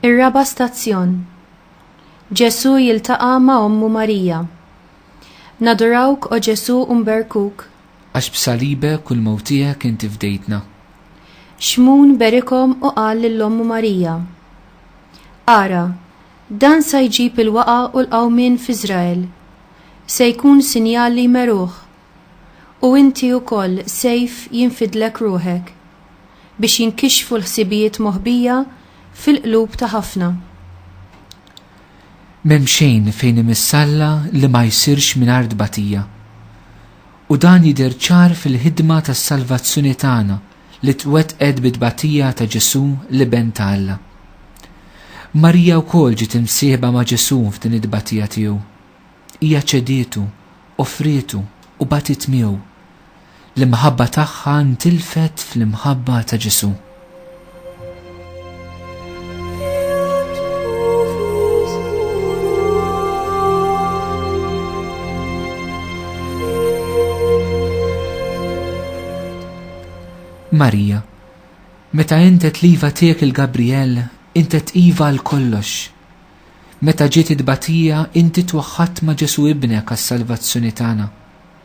Ir-raba' stazzjon. Ġesù jiltaqa' ma' ommu Marija. Nadurawk o Ġesù u nberkuk. Għax b'salibek u l-mewt tiegħek inti fdejtna. Xmun berikom u qal lil ommu Marija. Ara, Dan sa jġib il-waqgħa u l-qawmien f'Iżrael. Se jkun sinjal li jmeruh. U inti wkoll sejf jinfidlek ruħek, biex jinkixfu l-ħsibijiet moħbija fil-qlub ta' ħafna. M'hemm xejn fejn imissalla li ma jsirx mingħajr tbatija. U dan jidher ċar fil-ħidma tas-salvazzjoni tagħna li twettqet bit-tbatija ta' Ġesù, l-Iben ta' Alla. Marija wkoll ġiet imsieħba ma' Ġesù f'din it-tbatija tiegħu. Hija ċedietu, offrietu, u batiet miegħu. L-imħabba tagħha ntilfet fl-imħabba ta' Ġesù. Marija, meta intet liva tiegħek il-Gabriel, intet iva għal kollox. Meta ġiet it-tbatija, inti twaħħadt ma' Ġesu ibnek għas-salvazzjoni tagħna.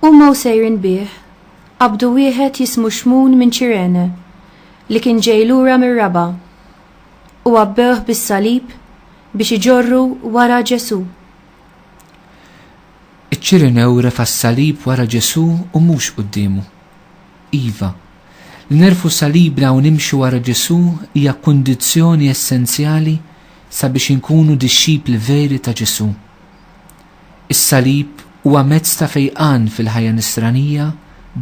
Huma u sejrin bih, qabdu wieħed jismu Xmun minn Ċirene, li kien ġej lura mir-raba', u għabbewh bis-salib biex iġorru wara Ġesù. Iċ-Ċirenew refa' s-salib wara Ġesù u mhux quddiemu. Iva, li nerfgħu salibna u nimxu wara Ġesù hija kundizzjoni essenzjali sabiex inkunu dixxipli veri ta' Ġesù. Is-salib huwa mezz ta' fejqan fil-ħajja Nisranija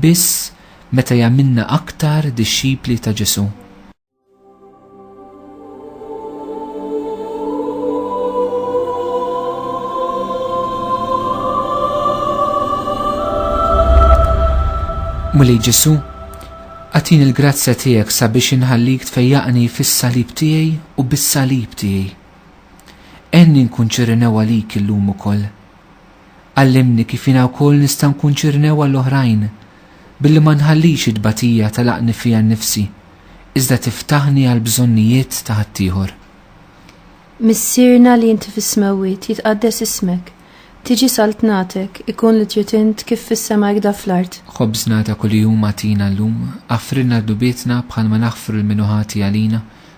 biss meta jagħmilna aktar dixxipli ta' Ġesù. Mulej Ġesù, għatini l-grazzja tiegħek sabiex inħallik tfejjaqni fis-salib tiegħi u bis-salib tiegħi. Għinni nkun ċirrinew għalik illum ukoll. Għallimni kif jiena wkoll nista' nkun ċirrinew għall-oħrajn, billi ma nħallix it-tbatija tagħlaqni fija nnifsi, iżda tiftaħni għall-bżonnijiet ta' ħaddieħor. Missierna li inti fis-smewwiet, jitqaddes ismek. Tiġi saltnatek, ikun li trid int kif fis-sema hekda fl-art. Ħobżna ta' kuljum agħtina llum, aħfrilna dnubietna bħalma naħfru lil min hu ħati għalina,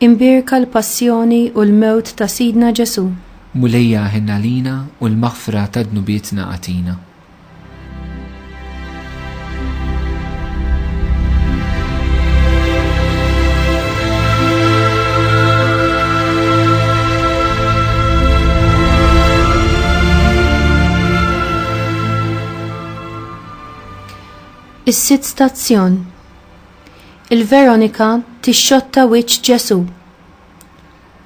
Imbierka l-passjoni u l-mewt ta' Sidna Ġesù. Mulejja aħen għalina u l-maħfra ta' dnubietna agħtina. Is-sitt stazzjon Il-Veronika tixxotta wiċċ Ġesù.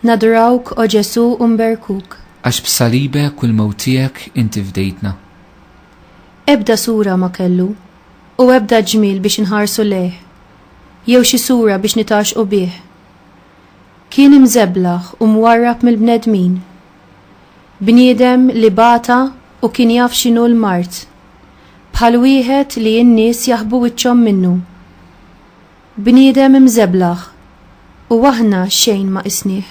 Nadrawk, O Ġesù, u nberkuk. Għax b'salibek u l-mewt tiegħek inti fdejtna. Ebda sura ma kellu, u ebda ġmiel biex inħarsu lejh, jew xi sura biex nitgħaxxqu bih. Kien imżeblaħ u mwarrab mill-bnedmin. Bniedem li bata u kien jaf x'inhu l-mard. bħal wieħed li n-nies jaħbu wiċċhom minnu. Bniedem imżeblaħ u aħna xejn ma qisnih.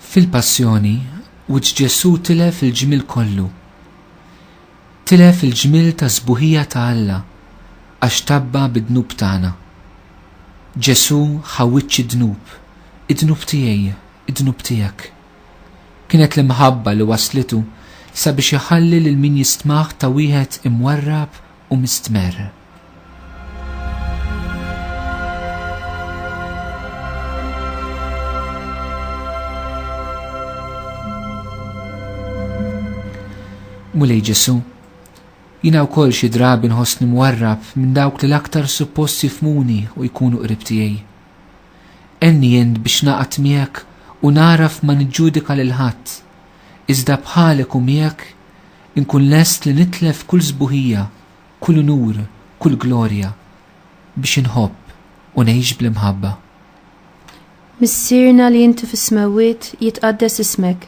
Fil-Passjoni, wiċċ Ġesù tilef il-ġmiel kollu. Tilef il-ġmiel ta' sbuħija ta' Alla għax tabba bid-dnub tagħna. Ġesù ħa wiċċ id-dnub, id-dnub tiegħi, id-dnub tiegħek. Kienet l-imħabba li wasslitu sabiex iħalli lil min jistmah ta' wieħed imwarrab u mistmerr. Mulej Ġesu, jina wkoll xi drabi nħossni mwarrab minn dawk li l-aktar suppost jifmuni u jkunu qrib tiegħi. Għenni int biex naqgħad miegħek u nagħraf ma niġġudika lil ħadd, iżda bħalek u miegħek inkun lest li nitlef kull sbuħija, kull unur, kull glorja, biex inħobb u ngħix bl-imħabba. Missierna li inti fis-smewwiet, jitqaddes ismek.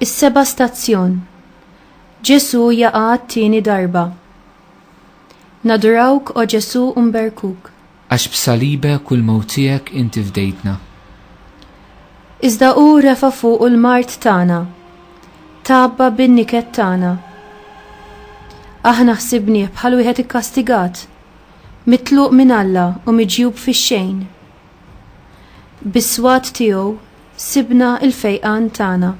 Is-seba' stazzjon. Ġesu jaqa' t-tieni darba. Nadurawk o Ġesu mberkuk. Għax b'salibek u l-mewt tiegħek inti fdejtna. Iżda hu refa' fuqu l-mard tagħna, tgħabba bin-niket tagħna. Aħna ħsibnieh bħal wieħed ikkastigat, mitluq minn Alla u miġjub fix-xejn. Bis-swat tiegħu sibna l-fejqan tagħna.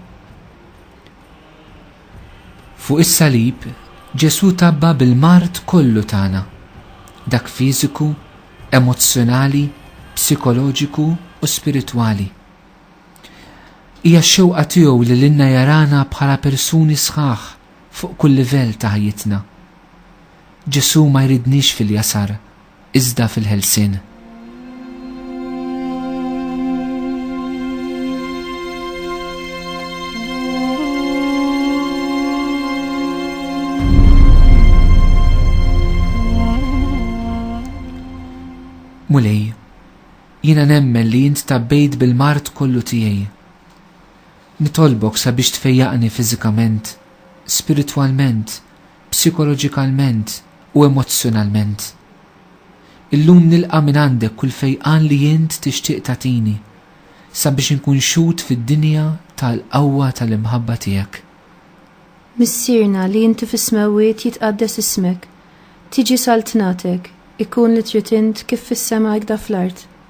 Fuq is-salib, Ġesù tgħabba bil-mard kollu tagħna, dak fiżiku, emozzjonali, psikoloġiku u spiritwali. Hija x-xewqa tiegħu li lilna jarana bħala persuni sħaħ fuq kull livell ta' ħajjitna. Ġesù ma jridniex fil-jasar iżda fil-ħelsien. Mulej, jiena nemmen li jint tabbejt bil-mart kollu tiegħi. Nitolbok sabiex tfejjaqni fiżikament, spiritwalment, psikoloġikalment u emozzjonalment. Illum nilqa' mingħandek kull fejqan li int tixtieq tagħtini sabiex inkun xhud fid-dinja tal-qawwa tal-imħabba tiegħek. Missierna li inti fis-smewwiet jitqaddes ismek, tiġi saltnatek, ikun li trid int kif fis-sema hekda fl-art.